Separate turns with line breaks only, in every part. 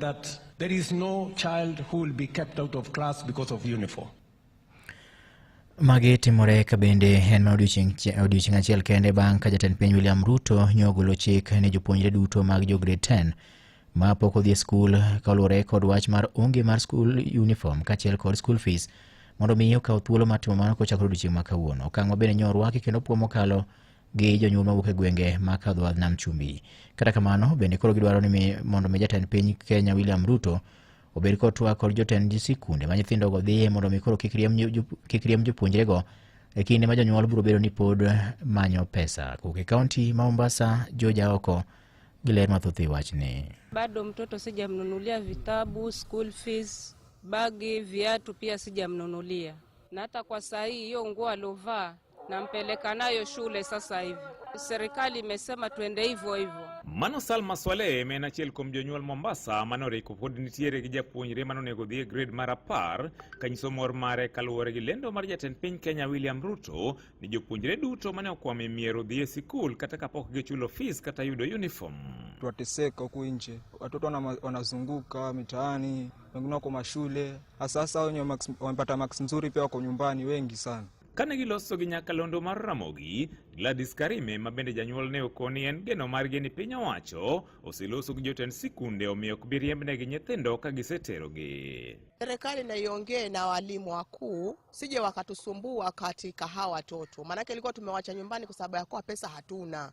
that there is no child who will be kept out of class because of uniform. Magi
timore ka bende en ma odiochieng' achiel kende bang' ka jatend piny William Ruto nyo ogolo chik ne jopuonjre duto mag jo grade 10 ma pok odhi e skul kaluwore kod wach mar onge mar skul uniform kaachiel kod school fees mondo mi okaw thuolo mar timo mano kochakore odiochieng' ma kawuono. Okang' ma bende nyo orwaki kendo puo mokalo gi jonyuol mawuok e gwenge ma kadho wadh nam chumbi. Kata kamano, bende koro gidwaro ni mi- mondo mi jatend piny Kenya William Ruto obed kod twak kod jotend sikunde ma nyithindogo dhiye mondo mi koro kik riemb jo- kik riemb jopuonjrego e kinde ma jonyuol biro bedo ni pod manyo pesa. Kowuok e kaunti ma Mombasa, George Aoko gi ler mathoth e wachni. bado mtoto
sijamnunulia vitabu, school fees, bagi, viatu pia sijamnunulia, na hata kwa saa hii hiyo nguo alovaa nampeleka nayo shule sasa hivi. Serikali imesema tuende hivyo hivyo. Mano Salma Swaleh
ma en achiel kuom jonyuol Mombasa mane oriko pod nitiere gi japuonjre mane onego dhi e grade mar apar kanyiso mor mare kaluwore gi lendo mar jatend piny Kenya William Ruto ni jopuonjre duto mane okwamo e miero dhi e sikul kata kapok gichulo fees kata yudo uniform. Twateseka
huku nje, watoto wanazunguka mitaani, wengine wako mashule, hasa hasa wenye wamepata max nzuri pia wako nyumbani, wengi sana. Kane giloso gi
nyakalondo mar Ramogi, Gladys Karime ma bende janyuol ne okoni en geno margi ni piny owacho oseloso gi jotend sikunde omiyo ok bi riembnegi nyithindo ka giseterogi. Serikali na
iongee na walimu wakuu sije wakatusumbua katika hawa watoto, maanake ilikuwa tumewacha nyumbani kwa sababu ya kuwa pesa hatuna.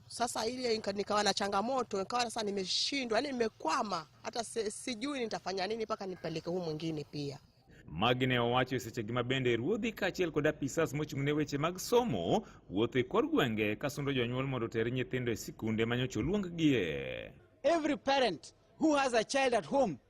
Sasa ile nika- nikawa na changamoto, nikawa sasa nimeshindwa, yani nimekwama, hata si- sijui nitafanya nini mpaka nipeleke huu mwingine pia. Magi ne owacho
e seche gi ma bende ruodhi kaachiel kod apisas mochung' ne weche mag somo wuotho e kor gwenge ka sundo jonyuol mondo oter nyithindo e sikunde ma nyocha oluonggie. Every parent
who has a child at home